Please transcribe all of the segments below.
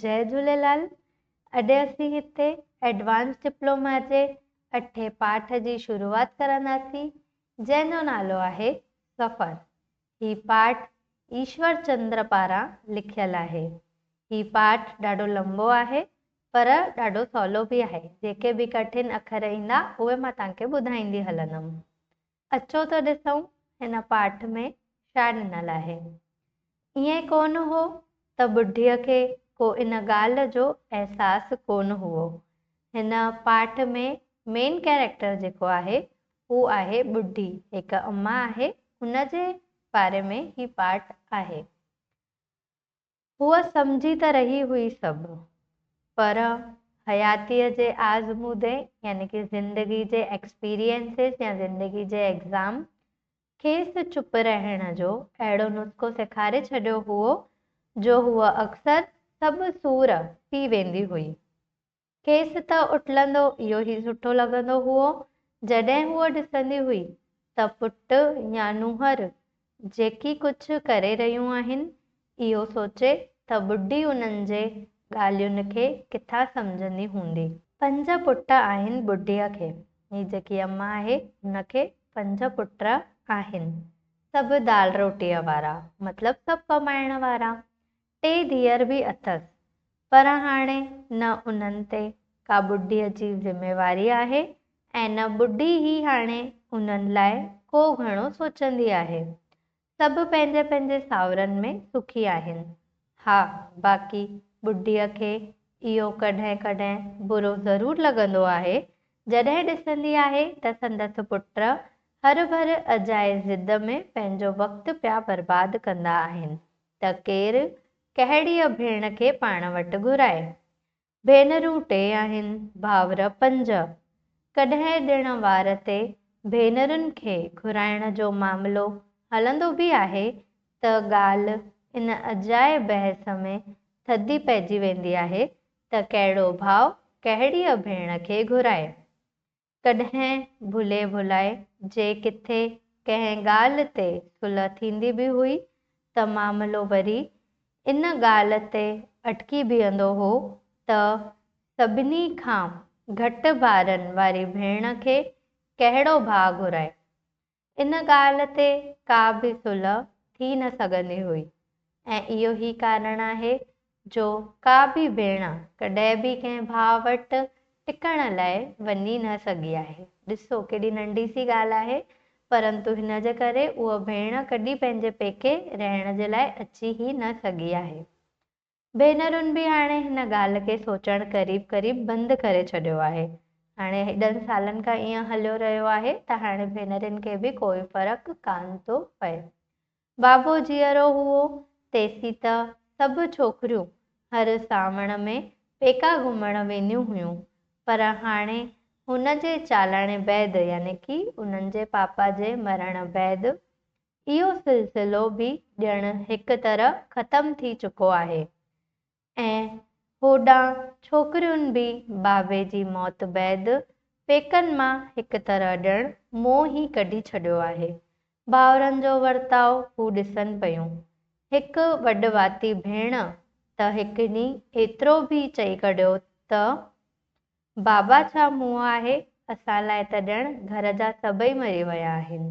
جئي جهوليلال اڄ اسين هتي ايڊوانس ڊپلوما جي اٺين پاٺ جي شروعات ڪرنداسين جنهن جو نالو آهي سفر هي پاٺ ايشور چندر پاران لکيل آهي هي پاٺ ڏاڍو لنبو آهي پر ڏاڍو سولو به آهي جيڪي به ڪٺن اکر ايندا اهي مان توهان کي ٻڌائيندي هلندم اچو ته ڏسون هن پاٺ ۾ ڇا ڏنل آهي. ائين ڪونه هو ته ٻڍيء کي ڪو ان ڳالهه جو احساس ڪونه هئو. هن پاٺ ۾ مين ڪيريڪٽر جيڪو آهي هو آهي ٻڍي. هڪ اما آهي ان جي باري ۾ هي پاٺ آهي. هوء سمجهي ته رهي هئي سڀ، پر حياتيء جي آزمودي يعني ڪي زندگي جي Experiences يا زندگي جي Exam کيس چپ رهڻ جو اهڙو نسخو سيکاري ڇڏيو هئو، جو هوء اڪثر سڀ سور پي ويندي هئي. کيس ته اٽلندو اهو ئي سٺو لڳندو هئو. جڏهن هوء ڏسندي هئي ته پٽ يا نونهر جيڪي ڪجهه ڪري رهيون آهن، اهو سوچي ته ٻڍي انهن جي ڳالهين کي ڪٿان سمجهندي هوندي. پنج پٽ آهن ٻڍيء کي. هي جيڪي اما آهي، هن کي پنج پٽ آهن. سڀ دال روٽيء وارا، مطلب سڀ ڪمائڻ وارا. ٽي ڌيئر به اٿس پر هاڻي نه انهن تي ڪا ٻڍيء جي ذميواري آهي ۽ نه ٻڍي ئي هاڻي انهن لاء ڪو گهڻو سوچندي آهي. سڀ پنهنجي پنهنجي ساورن ۾ سکي آهن. ها باقي ٻڍيء کي اهو ڪڏهن ڪڏهن برو ضرور لڳندو آهي جڏهن ڏسندي آهي ته سندس پٽ هرڀر اجائي ضد ۾ پنهنجو وقت پيا برباد ڪندا آهن. ته ڪير ڪهڙيء ڀيڻ کي پاڻ وٽ گهرائي. ڀينرون ٽي آهن، ڀائور پنج. ڪڏهن ڏڻ وار تي ڀينرن کي گهرائڻ جو معاملو هلندو به آهي ته ڳالهه ان اجائي بحث ۾ ٿڌي پئجي ويندي آهي ته ڪهڙو ڀاء ڪهڙيء ڀيڻ کي گهرائي. ڪڏهن ڀلي ڀلائي جي ڪٿي ڪنهن ڳالهه تي صلح ٿيندي به هئي ته معاملو وري ان ڳالهه تي اٽڪي بيهندو هو ته سڀني کان گهٽ ٻارن واري ڀيڻ کي ڪهڙو ڀاء گهرائي ان ڳالهه تي ڪا به صلح ٿي نه سگهندي هئي ۽ اهو ئي ڪارڻ آهي جو ڪا به ڀيڻ ڪڏهن به ڪنهن ڀاء وٽ ٽڪڻ لاء وڃي نه سگهي آهي. ڏسو ڪيڏي ننڍي سي ڳالهه آهي پرنتو هن جي ڪري اها ڀيڻ ڪڏهن پنهنجي پيڪي رهڻ جي لاء اچي ئي نه سگهي آهي. ڀينرن به هاڻي هن ڳالهه کي سوچڻ قريب قريب بند ڪري ڇڏيو آهي. هاڻي هيڏن سالن کان ائين هليو رهيو آهي ته هاڻي ڀينرين کي به ڪوئي فرق ڪانه ٿو پئي. بابو جيئرو هئو تيسين ته سڀ ڇوڪريون هر سانوڻ ۾ پيڪا گهمڻ وينديون هيون پر هاڻي هن جي چالاڻي بعد يعني ڪي انهن جي پاپا جي مرڻ بعد اهو سلسلو به ڄڻ هڪ طرح ختم ٿي چڪو آهي ۽ هوڏانهن ڇوڪريون به بابي جي موت بعد پيڪن مان هڪ طرح ڄڻ منهن ئي ڪڍي ڇڏيو آهي. ڀائرن جو ورتاء هو ڏسن پيون. هڪ وڏ واتي ڀيڻ ته هڪ ڏينهن ايترو به چئي ڪڍيو ته، بابا ڇا منهن آهي، اسان لاء ته ڄڻ گهر جا سڀئي مري ويا آهن.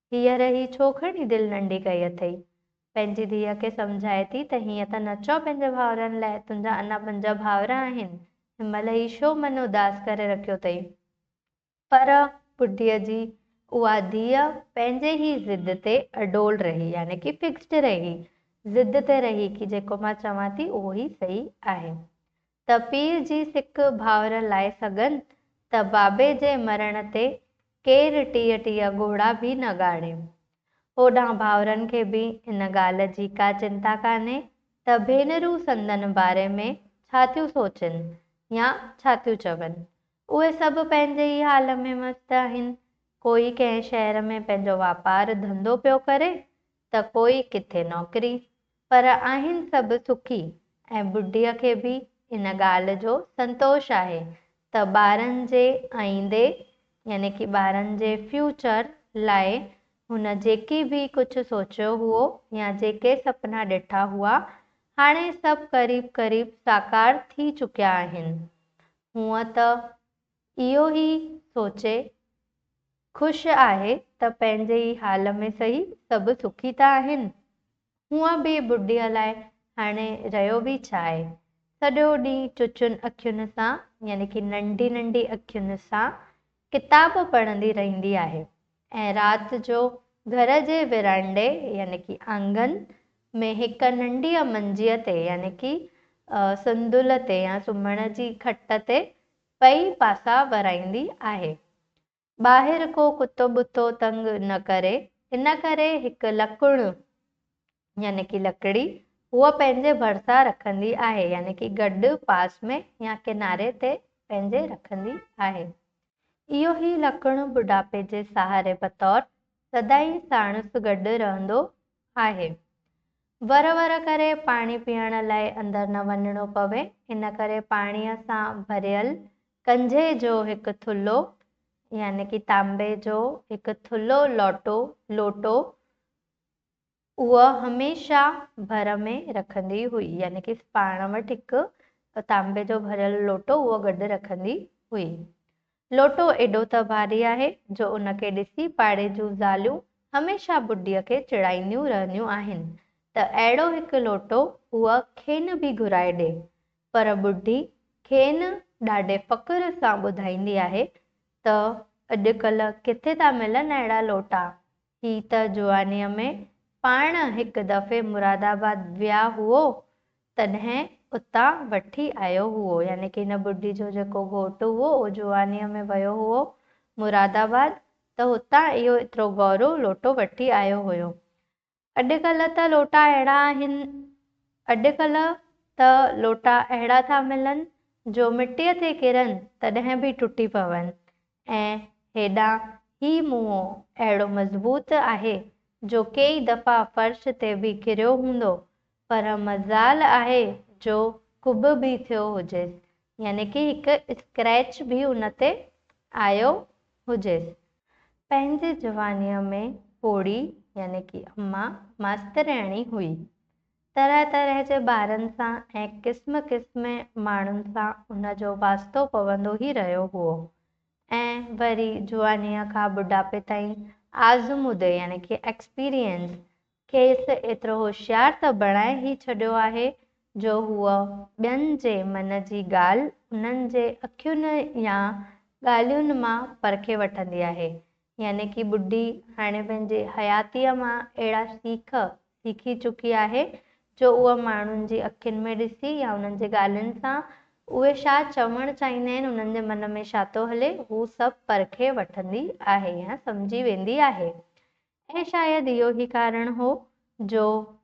هينئر هي ڇو کڻي دل ننڍي ڪئي اٿئي؟ پنهنجي ڌيء کي سمجهائي ٿي ته هيئن ته نه چئو پنهنجي ڀائرن لاء، تنهنجا اڃا پنج ڀائر آهن، هن مهل هي ڇو من اداس ڪري رکيو اٿئي؟ پر ٻڍيء جي اها ڌيء پنهنجي هي ضد تي اڏول رهي، يعني ڪي فڪسڊ رهي، ضد تي رهي ڪي جيڪو مان چوان ٿي اهو ئي صحيح آهي. ته پير جي سڪ ڀاور لاء سگهن ته بابي جي مرڻ تي ڪير ٽيهه ٽيهه ڳوڙها به نه ڳاڙين. هوڏانهن ڀائرن کي به ان ڳالهه جي ڪا چنتا ڪانهي ته ڀينرون سندن باري ۾ ڇا ٿيون سوچين يا ڇا ٿيون چون. اهي سڀ پنهنجي ئي حال ۾ مست آهن. ڪوئي ڪنهن شهر ۾ پنهنجو واپار ڌنڌو پيو ڪري ته ڪوئي ڪٿي نوڪري، پر آهن سڀ سکي ۽ ٻڍيء کي به ان ڳالهه جو سنتوش آهي ته ٻارن جي آئيندي يعني ڪي ٻارن جي فيوچر لاء هن جيڪي به ڪجهه سوچيو هئو يا جيڪي سپنا ڏٺا هئا هاڻي سڀ قريب قريب ساڪار ٿي چڪيا آهن هونء ته اهو ئي سوچي خوش آهي ته پنهنجي ئي حال ۾ سهي سڀ سکي ته آهن. هونء به ٻڍي لاء هاڻي رهيو به ڇا آهي؟ سڄو ڏينهن چچين اکين سان يعني ڪي ننڍي ننڍي اکين سان ڪتاب پڙهندي رهندي آهي ۽ رات جو گهر جي ورانڊي يعني ڪي آنگن ۾ هڪ ننڍيء منجيء تي يعني ڪي سندل تي يا سمهڻ جي کٽ تي پئي پاسا ورائيندي آهي. ٻاهر ڪو ڪتو ٻتو تنگ نه ڪري، ان ڪري هڪ لڪڻ يعني ڪي لڪڙي هوء پنهنجي ڀرسان رکندي آهي يعني ڪي گڏ پاس ۾ يا ڪناري تي پنهنجي رکندي آهي. اهو هي لڪڻ ٻڍاپي جي سهاري بطور سدائين ساڻس گڏ رهندو آهي. ور ور ڪري پاڻي پيئڻ لاء اندر نه وڃڻو پوي، ان ڪري پاڻيء سان ڀريل ڪنجهي جو هڪ ٿلهو يعني ڪي تانبي جو هڪ ٿلهو لوٽو، Loto، هوء هميشه ڀر ۾ رکندي هئي يعني ڪي پاڻ وٽ هڪ تانبي جو ڀريل لوٽو هوء گڏ رکندي هئي. لوٽو ايڏو ته ڀاري آهي جو ان کي ڏسي پاڙي جون زاليون هميشه بڊيء کي چڙائينديون رهنديون آهن ته اهڙو هڪ لوٽو هوء کين به گهرائي ڏي. پر بڊي کين ڏاڍي فخر سان ٻڌائيندي آهي ته اڄڪلهه ڪٿي ٿا ملن اهڙا لوٽا هي ته جوانيء ۾ پاڻ هڪ دفعي مراد آباد ويا هئو، تڏهن اتان وٺي آيو هئو. يعني ڪي هن ٻڍي جو جيڪو گهوٽ هئو، اهو جوانيء ۾ ويو هئو مراد آباد، ته هتان اهو ايترو گهرو لوٽو وٺي آيو هيو. اڄ ڪلهه ته لوٽا اهڙا آهن، اڄ ڪلهه ته لوٽا اهڙا ٿا ملن، جو مٽيء تي ڪرن، تڏهن به ٽٽي پون. ۽ هيڏانهن هي موئو اهڙو مضبوط آهي، جو ڪيئي دفعا فرش تي به ڪريو هوندو، پر مجال آهي جو ڪٻ به ٿيو هجيس، يعني ڪي هڪ اسڪريچ به ان تي آيو هجيس. پنهنجي جوانيء ۾ پوڙهي يعني ڪي امان ماسترياڻي هئي. طرح طرح جي ٻارن سان ۽ قسم قسم ماڻهن سان ان جو واسطو پوندو ئي رهيو هئو ۽ وري جوانيء کان ٻڍاپي تائين آزمودي يعني ڪي Experience کيس ايترو هوشيار ته بڻائي ئي ڇڏيو آهي جو هوء ٻين جي من جي ڳالهه انهن جي اکين يا ڳالهين مان پرکي وٺندي آهي يعني ڪي ٻڍي هاڻي پنهنجي حياتيء مان اهڙا سيخ سيکي چڪي آهي، جو اهو ماڻهن جي اکين ۾ ڏسي يا انهن جي ڳالهين سان، اهي ڇا چوڻ چاهيندا آهن، انهن جي من ۾ ڇا ٿو هلي، هو سڀ پرکي وٺندي آهي يا سمجهي ويندي آهي. ۽ شايد اهو ئي ڪارڻ هو، جو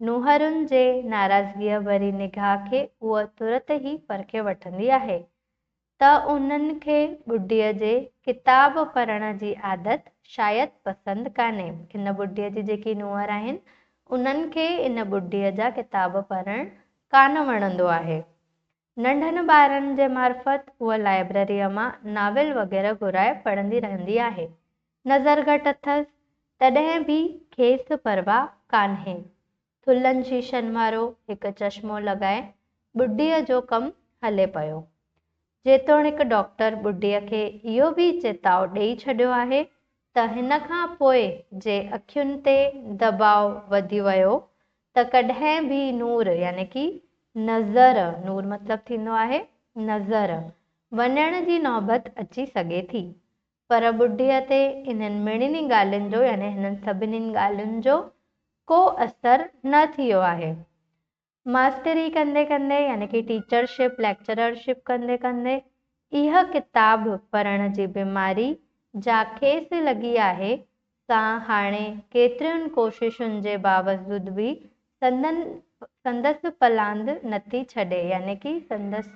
نونهرن جي ناراضگيء ڀري نگاهه کي هوء ترت ئي پرکي وٺندي آهي. ته انهن کي ٻڍيء جي ڪتاب پڙهڻ جي عادت شايد پسند ڪانهي. ان ٻڍيء جي جيڪي نونهر آهن، انهن کي ان ٻڍيء جا ڪتاب پڙهڻ ڪانه وڻندو آهي. ننڍن ٻارن جي معرفت هوء لائبرريء مان ناول وغيره گهرائي پڙهندي رهندي آهي. نظر گهٽ اٿس، تڏهن به کيس پرواهه ڪانهي. ٿلهن شيشن وارو هڪ چشمو لڳائي ٻڍيء جو ڪم هلي پيو. جيتوڻيڪ ڊاڪٽر ٻڍيء کي اهو به چتاء ڏيئي ڇڏيو آهي ته هن کان پوء جي اکين تي دٻاء وڌي ويو ته ڪڏهن به نور يعني ڪي نظر، نور مطلب ٿيندو آهي نظر، وڃڻ جي نوبت اچي سگهي ٿي. پر ٻڍيء تي انهن مڙني ڳالهين جو يعني هنن سڀني ڳالهين جو ڪو اثر نه ٿيو آهي. ماستري ڪندي ڪندي يعني ڪي ٽيچر شپ، ليڪچرر شپ ڪندي ڪندي اها ڪتاب پڙهڻ جي بيماري جا کيس لڳي آهي سا هاڻي ڪيترين ڪوششن جي باوجود به سندن سندس پلاند نٿي ڇڏي يعني ڪي سندس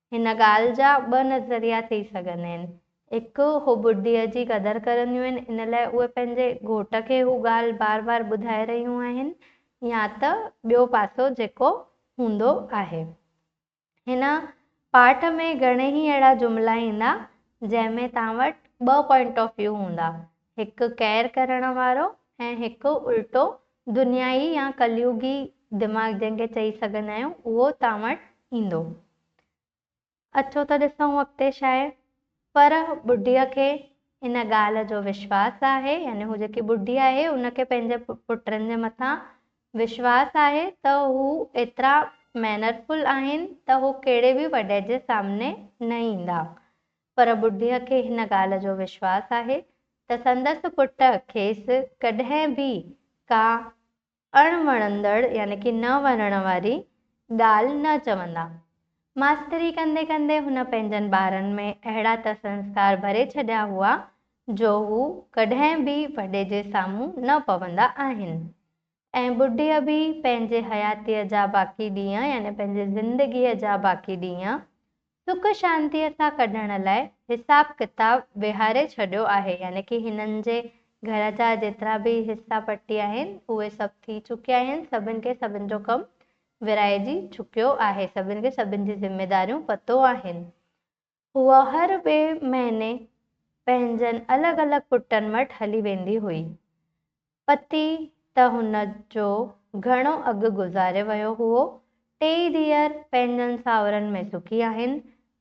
هن ڳالهه جا ٻه نظريا ٿي سگهن هين. هڪ، هو ٻڍيء جي قدر ڪرنديون هين، ان لاء اهي پنهنجي گهوٽ کي هو ڳالهه بار بار ٻڌائي رهيون آهن يا ته ٻيو پاسو جيڪو هوندو آهي. هن پاٺ ۾ گهڻيئي اهڙا جملا ايندا، جنهن ۾ توهان وٽ ٻه پوائنٽ آف ويو هوندا، هڪ قهر ڪرڻ وارو ۽ هڪ الٽو دنيائي يا ڪليوگي دماغ جنهن کي چئي سگهندا آهيون اهو توهان وٽ ايندو. اچو ته ڏسون اڳتي شاعر پر ٻڍيء کي ان ڳالهه جو وشواس آهي يعني هو جيڪي ٻڍي آهي ان کي پنهنجي پٽن جي مٿان وشواس آهي ته هو ايترا مينرفل آهن ته هو ڪهڙي به وڏي جي سامني نه ايندا پر ٻڍيء کي هن ڳالهه جو وشواس آهي ته سندس پٽ کيس ڪڏهن به ڪا اڻ وڻندڙ يعني ڪي نه وڻڻ واري ڳالهه نه چوندا. ماستري ڪندي ڪندي هن پنهنجن ٻارن ۾ اهڙا ته سنسڪار ڀري ڇڏيا هئا جو هو ڪڏهن به وڏي جي سامهون نه پوندا آهن. ۽ ٻڍيء به پنهنجي حياتيء جا باقي ڏينهن يعني پنهنجي زندگيء جا باقي ڏينهن سک شانتيء سان ڪڍڻ لاء حساب ڪتاب ويهاري ڇڏيو آهي يعني ڪي هنن جي گهر جا جيترا به حصا پٽي آهن اهي سڀ ٿي چڪيا آهن سڀن کي سڀن جو ڪم ورهائجي چڪيو آهي سڀن کي سڀن جي ذميداريون پتو آهن هوء هر ٻئي مهيني پنهنجن الڳ الڳ پٽن وٽ هلي ويندي هئي. پتي ته هن جو گهڻو اڳ گذاري ويو هئو. ٽيئي ڌيئر پنهنجن ساهورن ۾ سکي آهن.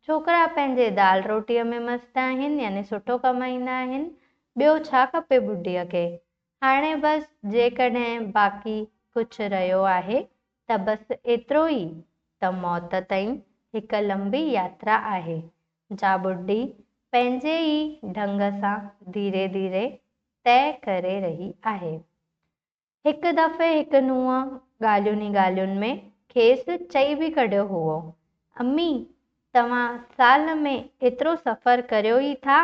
ڇوڪرا پنهنجي دال روٽيء ۾ مست آهن يعني سٺو ڪمائيندا آهن. ٻيو ڇا کپي ٻڍيء کي؟ هاڻي بس جيڪڏهن باقي ڪجهه رهيو آهي ته بس ايترو ئي ته موت تائين هڪ لنبي ياترا آهي، جا ٻڍي پنهنجي ئي ڍنگ سان ڌيري ڌيري طئي ڪري رهي آهي. هڪ دفعي هڪ نونهن ڳالهين ئي ڳالهين ۾ کيس چئي به ڪڍيو هئو، امي! توهان سال ۾ ايترو سفر ڪريو ئي ٿا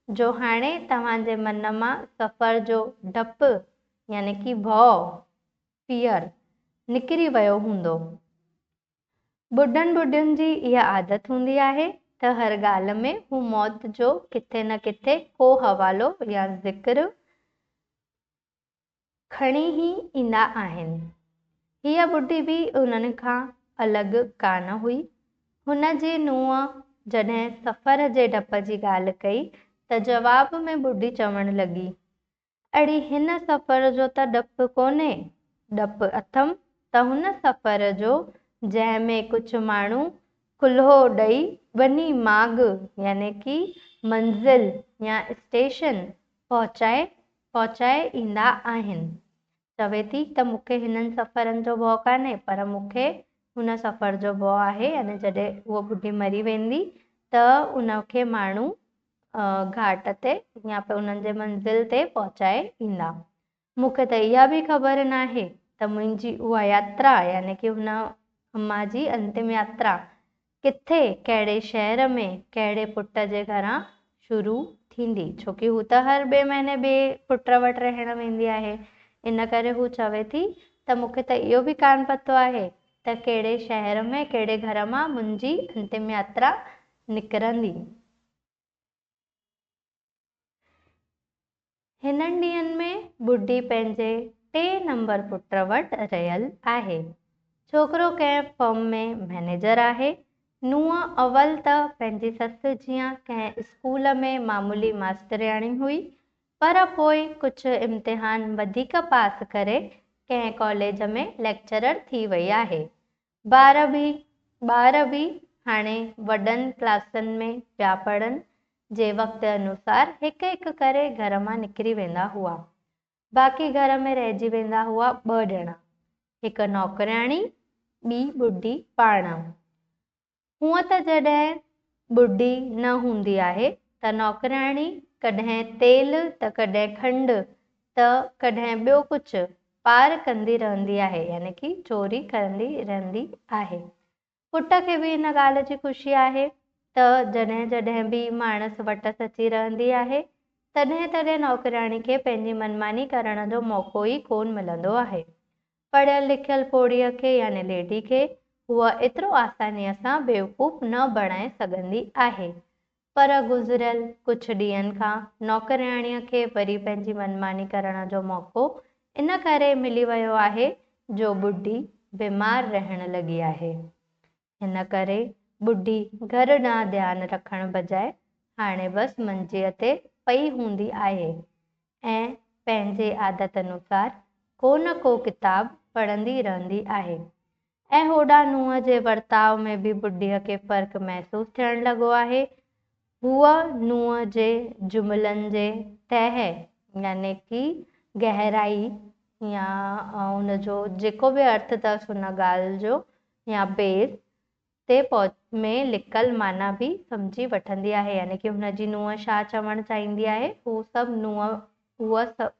جو هاڻي توهان جي من مان سفر جو ڊپ يعني ڪي ڀؤ، Fear، نڪري ويو هوندو. ٻڍن ٻڍين جي اها عادت هوندي آهي ته هر ڳالهه ۾ هو موت جو ڪٿي نه ڪٿي ڪو حوالو يا ذڪر کڻي هي ايندا آهن. هيء ٻڍي به انهن کان الڳ ڪانه هئي. هن جي نونهن جڏهن سفر جي ڊپ جي ڳالهه ڪئي ته جواب ۾ ٻڍي چوڻ لڳي، اڙي هن سفر جو ته ڊپ ڪونهي، ڊپ اٿم ته هن سفر جو جنهن ۾ ڪجهه ماڻهو ڪلهو ڏئي ٻني ماڳ يعني ڪي منزل يا اسٽيشن پهچائي پهچائي ايندا آهن. چوي ٿي ته مون کي هنن سفرن جو ڀؤ ڪانهي پر مون کي هن سفر جو ڀؤ آهي يعني جڏهن هوء ٻڍي مري ويندي ته ان کي ماڻهو گهاٽ تي يا انهن جي منزل تي پهچائي ايندا. مون کي ته اها به خبر ناهي ته منهنجي اها ياترا يعني ڪي هن اما جي انتم ياترا ڪٿي ڪهڙي شهر ۾ ڪهڙي پٽ جي گهران شروع ٿيندي ڇو ڪي هو ته هر ٻئي مهيني ٻئي پٽ وٽ رهڻ ويندي آهي ان ڪري هو چوي ٿي ته مون کي ته اهو به ڪانه پتو آهي ته ڪهڙي شهر ۾ ڪهڙي گهر مان منهنجي انتم ياترا نڪرندي. هنن ڏينهن ۾ ٻڍي پنهنجي ٽي نمبر پٽ وٽ رهيل آهي. ڇوڪرو ڪنهن فرم ۾ مئنيجر آهي. نونهن اول ته پنهنجي سس جيان ڪنهن اسڪول ۾ معمولي ماسترياڻي هئي، پر پوء ڪجهه امتحان وڌيڪ پاس ڪري ڪنهن ڪاليج ۾ ليڪچرر ٿي وئي آهي. ٻار به ٻار به هاڻي وڏن ڪلاسن ۾ پيا پڙهن، جي وقت انوسار هڪ هڪ ڪري گهر مان نڪري ويندا هئا. باقي گهر ۾ رهجي ويندا هئا ٻه ڄڻا، هڪ نوڪرياڻي، ٻي ٻڍي پاڻ. هونء ته جڏهن ٻڍي نه هوندي آهي ته نوڪرياڻي ڪڏهن تيل ته ڪڏهن کنڊ ته ڪڏهن ٻيو ڪجهه پار ڪندي رهندي آهي يعني ڪي چوري ڪرندي رهندي آهي. پٽ کي به ان ڳالهه جي خوشي آهي ته جڏهن جڏهن به ماڻس وٽس اچي رهندي آهي تڏهن تڏهن نوڪرياڻي کي پنهنجي منماني ڪرڻ جو موقعو ئي ڪونه ملندو آهي. پڙهيل لکيل پوڙهيء کي يعني ليڊي کي هوء ايترو آسانيء سان بيوقوف نه بڻائي سگهندي آهي. پر گذريل ڪجهه ڏينهن کان نوڪرياڻيء کي وري پنهنجي منماني ڪرڻ جو موقعو ان ڪري ملي ويو آهي جو ٻڍي بيمار رهڻ لڳي آهي. هن ڪري ٻڍي گهر ڏانهن ڌيان رکڻ بجاء هاڻي بس منجيء تي پئي هوندي آهي ۽ پنهنجي عادت انوسار ڪو نه ڪو ڪتاب پڙهندي رهندي آهي ۽ هوڏانهن نونهن جي ورتاء ۾ به ٻڍيء کي فرق محسوس ٿيڻ لڳو آهي. هوء نونهن جي جملن جي تهه يعني ڪي گهرائي يا ان جو جيڪو به ارٿ اٿس ان ڳالهه جو يا بيس، تي پهچ ۾ لڪل معنيٰ به سمجهي وٺندي آهي، يعني ڪي هن جي نونهن شاهه چوڻ چاهيندي آهي، هو سڀ نونهن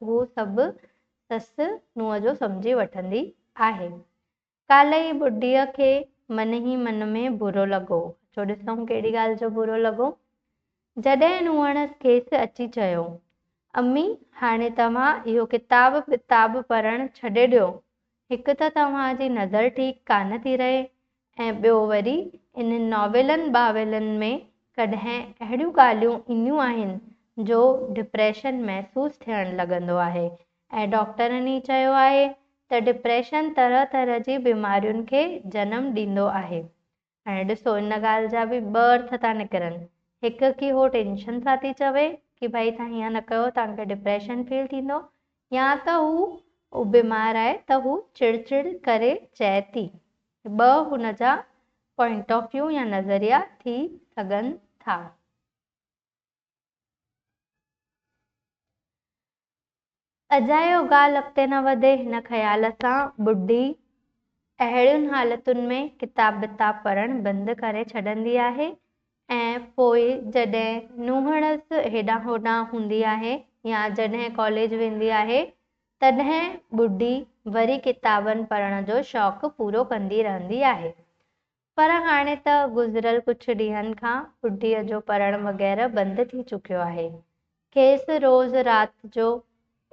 هو سڀ سس نونهن جو سمجهي وٺندي آهي. ڪالهه ئي ٻڍيء کي من ئي من ۾ برو لڳو. اچو ڏسون ڪهڙي ڳالهه جو برو لڳو. جڏهن هن کيس اچي چيو، امي، هاڻي توهان اهو ڪتاب ڪتاب پڙهڻ ڇڏي ڏيو. هڪ ته توهان جي نظر ٺيڪ ڪانه ٿي رهي ۽ ٻيو وري انهن ناولن ٻاولن ۾ ڪڏهن اهڙيون ڳالهيون اينديون آهن جو ڊپريشن محسوس ٿيڻ لڳندو آهي ۽ ڊاڪٽرن ئي چيو آهي ته ڊپريشن طرح طرح جي بيمارين کي جنم ڏيندو آهي ۽ ڏسو ان ڳالهه جا به ٻه ارٿ ٿا نڪرن، هڪ ڪي هو ٽينشن سان ٿي چوي ڪي ڀائي تهان هيئن نه ڪيو تهان کي ڊپريشن فيل ٿيندو يا ته هو هو بيمار آهي ته هو چڙ چڙ ڪري چئي ٿي. ٻه هن جا پوائنٽ آف ويو يا نظريا ٿي سگهن ٿا. اجايو ڳالهه اڳتي نه وڌي، هن خيال سان ٻڍي اهڙين حالتن ۾ ڪتاب بتاب پڙهڻ بند ڪري ڇڏيندي آهي ۽ پوء جڏهن نونهڙس هيڏانهن هوڏانهن هوندي آهي يا جڏهن ڪاليج ويندي آهي تڏهن ٻڍي وري ڪتابن پڙهڻ جو شوق پورو ڪندي رهندي آهي. پر هاڻي ته گذريل ڪجهه ڏينهن کان ٻڍيء جو پڙهڻ وغيره بند ٿي چڪيو آهي. کيس روز رات جو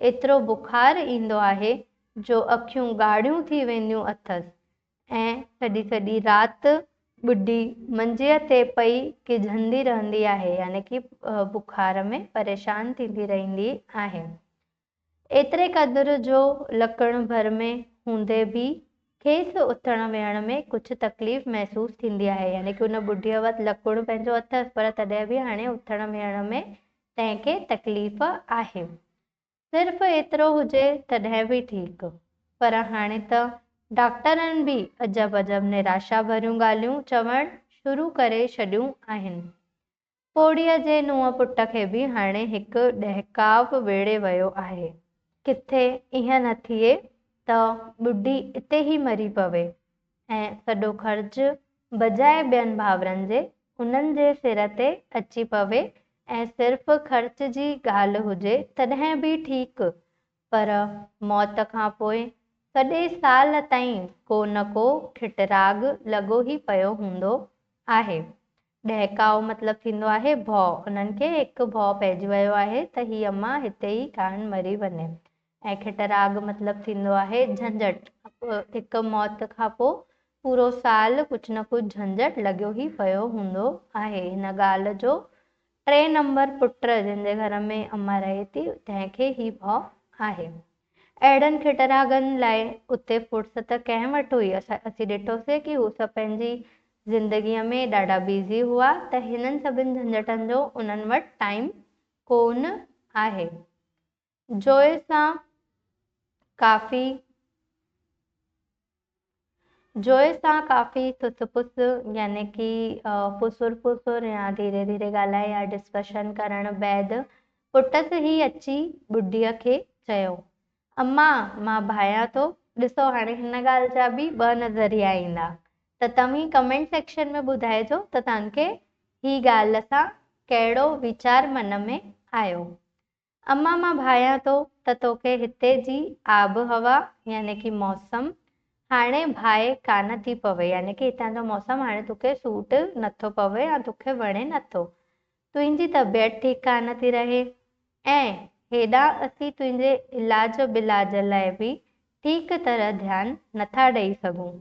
ايترو بخار ايندو آهي جو اکيون ڳاڙهيون ٿي وينديون اٿس ۽ سڄي سڄي رات ٻڍي منجيء تي پئي ڪيجهندي رهندي آهي يعني ڪي بخار ۾ پريشان ٿيندي رهندي آهي. ايتري قدر جو لڪڻ ڀر ۾ هوندي به کيس اٿڻ ويهڻ ۾ ڪجهه تڪليف محسوس ٿيندي آهي يعني ڪي ان ٻڍيء وٽ لڪڻ پنهنجو اٿس پر تڏهن به هاڻي اٿڻ ويهڻ ۾ تنهن کي تڪليف آهي. صرف ايترو هجي تڏهن به ٺيڪ پر هاڻي ته ڊاڪٽرن به عجب عجب نراشا ڀريون ڳالهيون چوڻ شروع ڪري ڇڏيون آهن. پوڙهيء جي نونهن پٽ کي به هاڻي هڪ ڏهڪاء ويڙهي ويو آهي. ڪٿي ائين نه ٿئي ته ٻڍي اتي ئي مري پوي ۽ سڄو خرچ بجاء ٻين ڀائرن جي، انهن جي سر تي اچي پوي ۽ صرف خرچ جي ڳالهه هجي تڏهن به ٺيڪ، پر موت کان پوء سڄي سال تائين ڪو نه ڪو کٽراڳ لڳو ئي پيو هوندو آهي. ڏهڪاء مطلب ٿيندو آهي ڀؤ. انهن کي هڪ ڀؤ پئجي ويو آهي ته هي امان هتي ئي ڪاهن مري وڃي. ۽ کٽراڳ مطلب ٿيندو آهي جهنجهٽ. هڪ موت کان پوء پورو سال ڪجهه نه ڪجهه جهنجهٽ لڳيو ئي پيو هوندو آهي. هن ڳالهه جو ٽئين نمبر پٽ جنهن جي گهر ۾ امان رهي ٿي تنهن کي هي ڀؤ آهي. اهڙن کٽراڳن لاء اتي فرصت ڪنهن وٽ هئي؟ اسين ڏٺوسين ڪي هو سڀ پنهنجي زندگيء ۾ ڏاڍا بيزي هئا ته هنن سڀن جهنجهٽن جو انهن وٽ ٽائيم ڪونه آهي. جوئي سان ڪافي. جويي سان ڪافي سس پس يعني ڪي پسر پسر يا ڌيري ڌيري ڳالهائي يا ڊسڪشن ڪرڻ بعد پٽس هي اچي ٻڍيء کي چيو، اما! مان ڀانئيان ٿو، ڏسو هاڻي هن ڳالهه جا به ٻه نظريا ايندا ته توهين ڪمينٽ سيڪشن ۾ ٻڌائجو ته توهان کي هي ڳالهه سان ڪهڙو ويچار من ۾ آيو. اما مان ڀانيان ٿو ته توکي هتي جي آب هوا يعني ڪي موسم هاڻي ڀائي ڪانه ٿي پوي يعني ڪي هتان جو موسم هاڻي توکي سوٽ نٿو پوي يا توکي وڻي نٿو تنهنجي طبيعت ٺيڪ ڪانه ٿي رهي ۽ هيڏانهن اسين تنهنجي علاج بلاج لاء به ٺيڪ طرح ڌيان نٿا ڏئي سگهون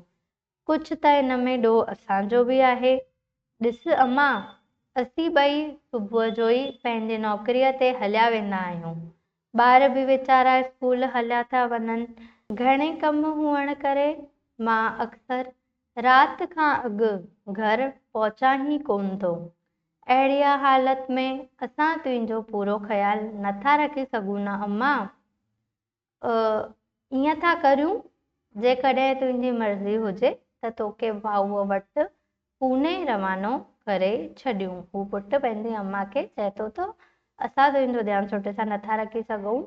ڪجهه ته ان ۾ ڏوهه اسان جو به آهي. ڏس امان، اسين ٻئي صبح جو ئي پنهنجي نوڪريء تي هليا ويندا آهيون. ٻار به ويچارا اسڪول هليا ٿا وڃن. گهڻي ڪم هئڻ ڪري مان اڪثر رات کان اڳ گهر پهچان ئي ڪونه ٿو. اهڙيء حالت ۾ اسان تنهنجو پورو خيال نٿا رکي سگهون نه امان! ائين ٿا ڪريون، جيڪڏهن تنهنجي مرضي هجي ته توکي ڀائوء وٽ پوني روانو ڪري ڇڏيون. هو پٽ پنهنجي امان کي چئي ٿو ته اسان تنهنجو ڌيان سٺي سان نٿا رکي سگهون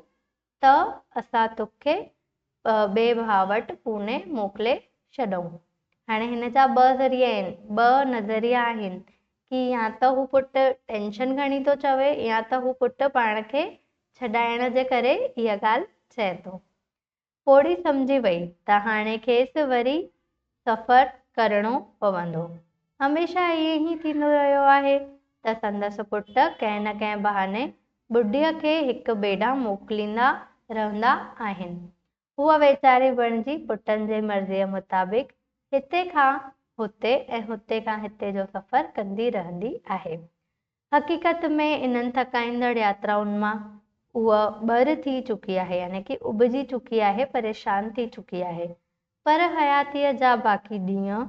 ته اسان توکي ٻئي ڀاء وٽ پوني موڪلي ڇڏئون. هاڻي هن جا ٻه ذريعا آهن، ٻه نظريا آهن، ڪي يا ته هو پٽ ٽينشن کڻي ٿو چوي يا ته هو پٽ پاڻ کي ڇڏائڻ جي ڪري اها ڳالهه چئي ٿو. پوڙهي سمجهي وئي ته هاڻي کيس وري سفر ڪرڻو پوندو. هميشه ائين ئي ٿيندو رهيو آهي ته سندس پٽ ڪنهن نه ڪنهن بهاني ٻڍيء کي هڪ ٻئي ڏانهن موڪليندا رهندا آهن. هوء ويچاري بڻجي پٽن جي مرضيء مطابق هتي کان هتي ۽ هتي کان هتي جو سفر ڪندي رهندي آهي. حقيقت ۾ انهن ٿڪائيندڙ ياترائن مان هوء ٻر ٿي چڪي آهي يعني ڪي اڀجي چڪي آهي، پريشان ٿي چڪي آهي. پر حياتيء جا باقي ڏينهن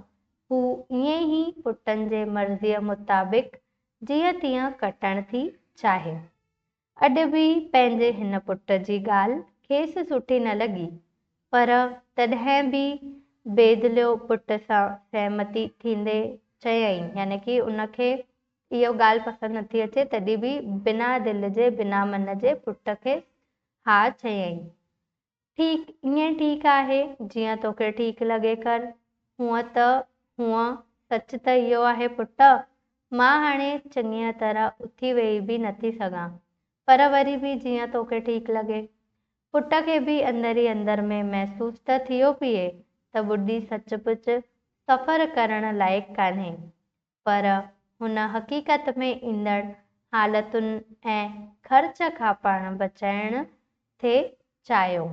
هو ائين ئي پٽن جي مرضيء مطابق جيئن تيئن ڪٽڻ ٿي چاهي. اڄ به پنهنجي هن پٽ جي ڳالهه کيس سٺي نه لڳي، پر تڏهن به بيدليو پٽ سان سهمتي ٿيندي چيائين، يعني ڪي ان کي اهو ڳالهه پسند نه ٿي اچي، تڏهن به بنا دل جي، بنا من جي پٽ کيس ها چيائين. ٺيڪ ائين ٺيڪ آهي جيئن توکي ٺيڪ لڳي ڪر. هونء ته هونء سچ ته اهو آهي پٽ. مان هاڻي چڱيء طرح اٿي ويهي به نٿي سگهان. پر وري به جيئن توکي ٺيڪ لڳي. پٽ کي به اندر ئي اندر ۾ محسوس ته ٿيو پيئي ته ٻڍي سچ پچ سفر ڪرڻ لائق ڪانهي. پر هن حقيقت ۾ ايندڙ حالتن ۽ خرچ کان پاڻ بچائڻ ٿي چاهيو.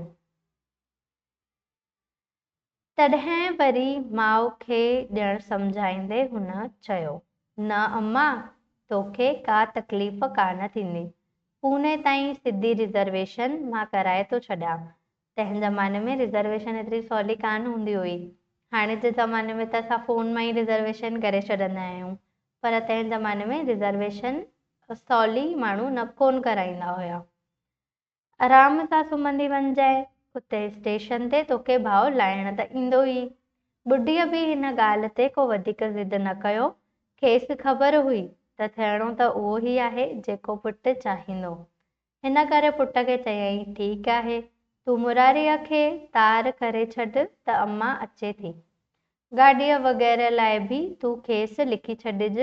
تڏهن وري ماء کي ڄڻ سمجهائيندي هن چيو، نه اما، توکي ڪا تڪليف ڪانه ٿيندي. پوني تائين سڌي رزرويشن مان ڪرائي ٿو ڇڏيان. تنهن زماني ۾ رزرويشن ايتري سولي ڪانه هوندي هئي. هاڻي جي زماني ۾ ته اسان فون مان ئي رزرويشن ڪري ڇڏندا آهيون. پر تنهن زماني ۾ رزرويشن سولي ماڻهو نه ڪونه ڪرائيندا هيا. آرام سان سمهندي وڃجانء. اتي اسٽيشن تي توکي ڀاء لاهڻ ته ايندو ئي. ٻڍيء به هن ڳالهه تي ڪو وڌيڪ ضد نه ڪيو. کيس خبر هئي ته ٿيڻو ته اهو ئي آهي جيڪو پٽ چاهيندو. ان ڪري پٽ کي چيائين، ٺيڪ آهي، تون مراريء کي تار ڪري ڇڏ ته امان اچي ٿي. گاڏيء وغيره لاء به تون کيس لکي ڇڏج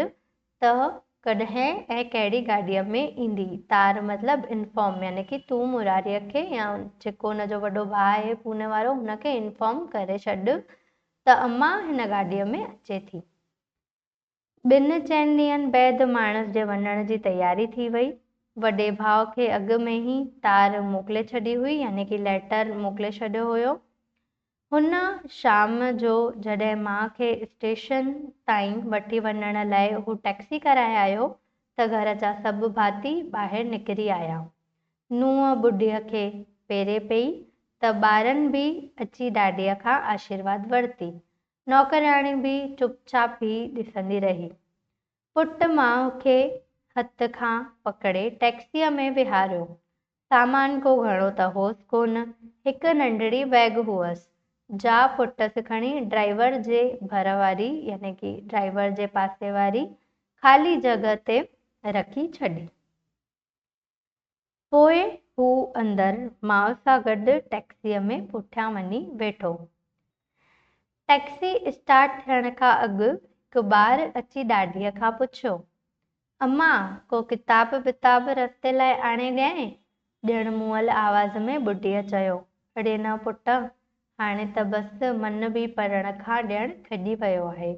ته ڪڏهن ۽ ڪهڙي گاڏيء ۾ ايندي. تار مطلب انفارم، يعني ڪي تون مراريء کي يا جيڪو ان جو وڏو ڀاء آهي پوني وارو، هن کي انفارم ڪري ڇڏ ته امان هن گاڏيء ۾ اچي ٿي. ٻن چئن ڏينهن بعد ماڻس جي وڃڻ جي تياري ٿي وئي. وڏي ڀاء کي اڳ ۾ ئي تار موڪلي ڇڏي هئي يعني ڪي ليٽر موڪلي ڇڏيو هيو. هن شام جو جڏهن ماء کي اسٽيشن تائين وٺي وڃڻ لاء هو ٽئڪسي ڪرائي آيو ته گهر جا سڀ ڀاتي ٻاهر نڪري آيا. نونهن ٻڍي کي پيري پئي ته ٻارن به اچي ڏاڏي کان آشيرواد ورتي. نوڪرياڻي به چپ چاپ ئي ڏسندي رهي. پٽ ماء کي هٿ کان پڪڙي ٽئڪسيء ۾ ويهاريو. سامان ڪو گهڻو ته هوس ڪونه، هڪ ننڍڙي بئگ هئس، جا پٽس کڻي ڊرائيور جي ڀر واري يعني ڪي ڊرائيور جي پاسي واري خالي جڳهه تي رکي ڇڏي. پوء هو اندر ماء سان گڏ ٽئڪسيء ۾ پٺيان وڃي ويٺو. ٽئڪسي اسٽارٽ ٿيڻ کان اڳ هڪ ٻار اچي ڏاڏيء کان پڇيو، اما، ڪو ڪتاب وتاب رستي لاء آڻي ڏيانء؟ ڄڻ موئل آواز ۾ ٻڍيء چيو، اڙي نه پٽ، هاڻي ته بس، من به پڙهڻ کان ڄڻ کڄي ويو آهي.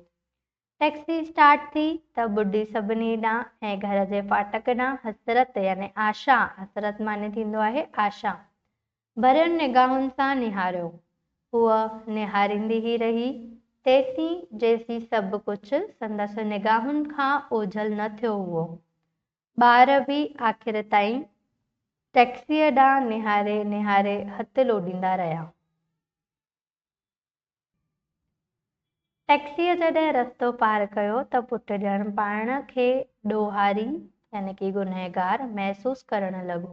ٽئڪسي اسٽارٽ ٿي ته ٻڍي سڀني ڏانهن ۽ گهر جي ڦاٽڪ ڏانهن حسرت يعني آشا، حسرت معني ٿيندو آهي آشا، ڀرين نگاهن سان نهاريو. هوء نهاريندي ئي رهي، تيسين جيسين سڀ ڪجهه سندس نگاهن کان اوجهل نه ٿيو هئو. ٻار به آخر تائين ٽئڪسيء ڏانهن نهاري نهاري هٿ لوڏيندا رهيا. ٽئڪسيء جڏهن رستو پار ڪيو ته پٽ ڄڻ پاڻ کي ڏوهاري يعني ڪي گنهگار محسوس ڪرڻ لڳو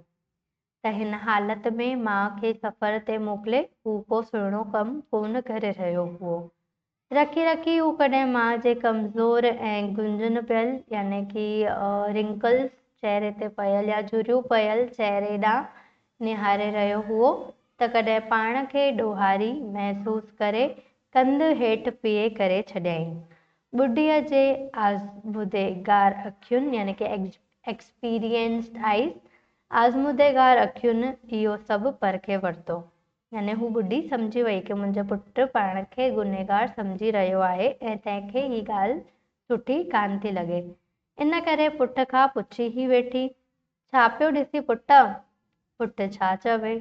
ته هن حالت ۾ ماء کي سفر تي موڪلي هو ڪو سهڻو ڪم ڪونه ڪري رهيو هئو. رکي رکي هو ڪڏهن ماء جي ڪمزور ۽ گنجن پيل يعني ڪي Wrinkles چهري تي پيل يا جهريون پيل چهري ڏانهن نهاري رهيو هئو ته ڪڏهن پاڻ کي ڏوهاري محسوس ڪري ڪنڌ هيٺ پيئي ڪري ڇڏيائين. ٻڍيء جي آزموديگار اکين يعني ڪي Experienced Eyes آزموديگار اکين اهو سڀ پرکي ورتو. يعني هو ٻڍي سمجهي وئي ڪي منهنجو پٽ پاڻ کي گنهگار سمجهي رهيو آهي ۽ تنهن کي هي ڳالهه سٺي ڪانه ٿي لڳي. ان ڪري پٺ کان پڇي هي ويٺي ڇا پيو ڏسين پٽ؟ پٽ ڇا چوي؟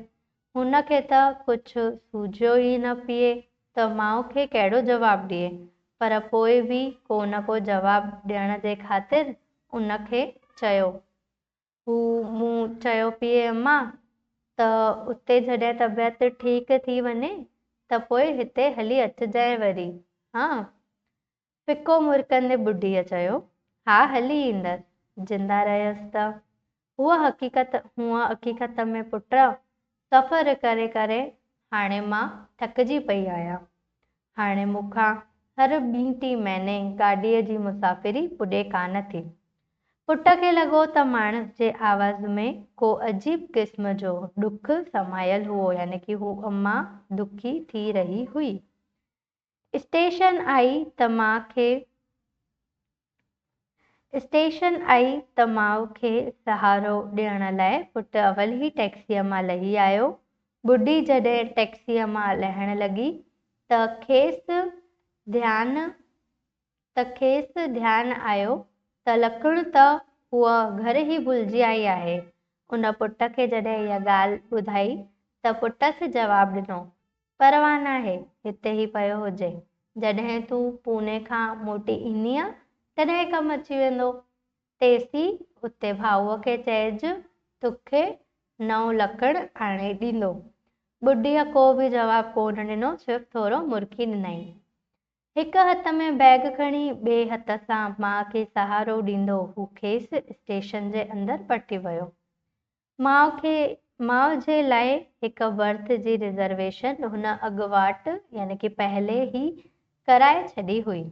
هن کي ته ڪجهه سوجهيو ئي نه پيئي ته ماء کي ڪهڙو جواب ڏئي، پر پوء به ڪو نه ڪو جواب ڏيڻ جي خاطر ان کي چيو. هو مون چيو پيئي اما ته اتي جڏهن طبيعت ٺيڪ ٿي وڃي ته پوء هتي هلي اچجانء وري، هان! ڦڪو مرڪندي ٻڍيء چيو، ها هلي ايندس، زنده رهيس ته. هوء حقيقت هونء حقيقت ۾ پٽ، سفر ڪري ڪري هاڻي مان ٿڪجي پئي آهيان. هاڻي مون کان هر ٻين ٽين مهيني گاڏيء جي مسافري پڄي ڪانه ٿي. پٽ کي لڳو ته ماڻس جي آواز ۾ ڪو عجيب قسم جو ڏک سمايل هئو يعني ڪي هوء امان دکي ٿي رهي هئي. اسٽيشن آئي ته ماء کي اسٽيشن آئي ته ماء کي سهارو ڏيڻ لاء پٽ اولهي ٽئڪسيء مان لهي آيو. ٻڍي جڏهن ٽئڪسيء مان لهڻ لڳي ته کيس ڌيان ته کيس ڌيان آيو ته لکڻ ته هوء گهر ئي ڀلجي آئي آهي. ان پٽ کي جڏهن اها ڳالهه ٻڌائي ته پٽس جواب ڏنو. پرواهه ناهي، هتي ئي پيو هجي. جڏهن تون پوني کان موٽي ايندينء، تڏهن ڪم اچي ويندو. تيسين اتي ڀائوء کي چئج، توکي نئون لڪڙ آڻي ڏيندو. ٻڍيء ڪو به جواب ڪو نه ڏنو، صرف ٿورو مرڪي ڏنائين. هڪ هٿ ۾ بيگ کڻي، ٻئي هٿ سان ماء کي سهارو ڏيندو هو کيس اسٽيشن جي اندر پٺي ويو. ماء کي ماء جي لاء هڪ برٿ جي رزرويشن هن اڳواٽ يعني ڪي پهلي ئي ڪرائي ڇڏي هئي.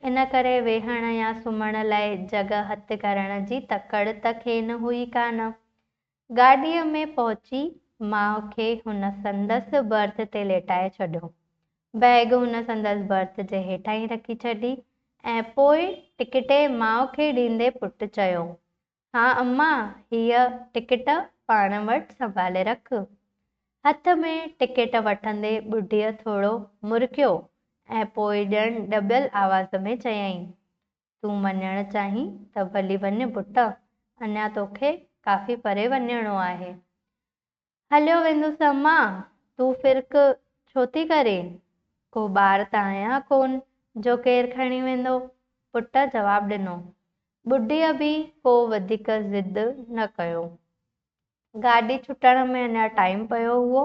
ان ڪري ويهڻ يا سمهڻ لاء جڳهه هٿ ڪرڻ جي تڪڙ ته کين هئي ڪانه. گاڏيء ۾ پهچي ماء کي هن سندس برٿ تي ليٽائي ڇڏيو. بيگ هن سندس برٿ جي هيٺاهين رکي ڇڏي ۽ پوء ٽڪٽي ماء کي ڏيندي پٽ چيو، ها اما، هيء ٽڪيٽ پاڻ وٽ سنڀالي رک. هٿ ۾ ٽڪيٽ وٺندي ٻڍيء ٿورو مرڪيو ۽ پوء ڄڻ ڏٻيل آواز ۾ چيائين، تون وڃڻ چاهين ته ڀلي وڃ پٽ، اڃا توکي ڪافي پري وڃڻو آهي. هليو ويندس اما، تون فرڪ ڇو ٿي ڪرين؟ ڪو ٻار ته آهيان ڪونه جو ڪير کڻي ويندو. پٽ جواب ڏنو. ٻڍيء به ڪو وڌيڪ ضد نه ڪيو. گاڏي ڇٽڻ ۾ اڃا ٽائيم پيو هئو،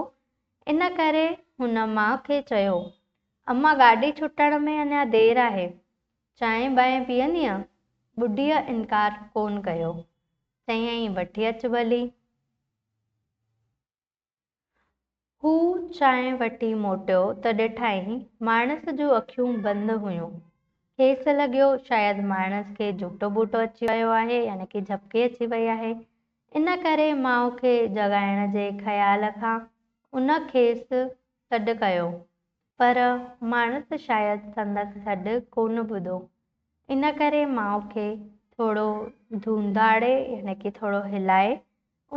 ان ڪري هن ماء کي چيو، اما گاڏي ڇٽڻ ۾ اڃا دير آهي، چانهه بانهه پيئندينء؟ ٻڍيء انڪار ڪونه ڪيو، چيائين وٺي اچ ڀلي. هو چانهه وٺي موٽيو ته ڏٺائين ماڻس جون اکيون بند هيون. کيس لڳيو شايد ماڻس کي جهوٽو ٻوٽو اچي ويو آهي يعني ڪي جهپڪي اچي وئي آهي. ان ڪري ماء کي جڳائڻ جي خيال کان ان کيس سڏ ڪيو. پر ماڻس شايد سندس سڏ ڪونه ٻڌو. ان ڪري ماء کي ٿورو ڌونڌاڙي يعني ڪي ٿورو هلائي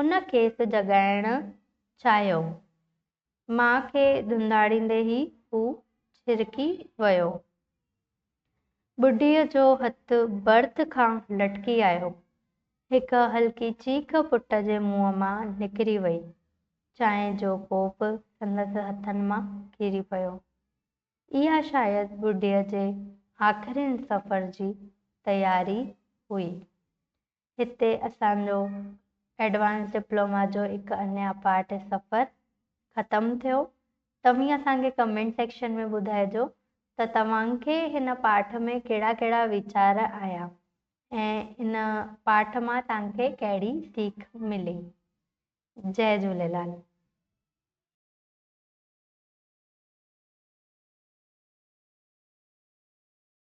ان کيس جڳائڻ چاهيو. ماء کي ڌنڌاڙيندي ئي هو ڇرڪي ويو. ٻڍيء جو هٿ برٿ کان لٽڪي آيو. هڪ هلڪي چيخ پٽ جي منهن مان نڪري وئي. چانهه جو ڪوپ سندس هٿن مان ڪري پيو. اها شايد ٻڍيء جي آخرين سفر جي تياري هئي. هتي اسان جو ايڊوانس ڊپلوما جو هڪ اڃان پارٽ سفر ختم ٿيو. توهين اسان کي ڪمينٽ سيڪشن ۾ ٻڌائجو ته توهان کي هن پارٽ ۾ ڪهڙا ڪهڙا ويچار آيا ۽ ان پارٽ مان توهان کي ڪهڙي سيک ملي. جئي جهوليلال.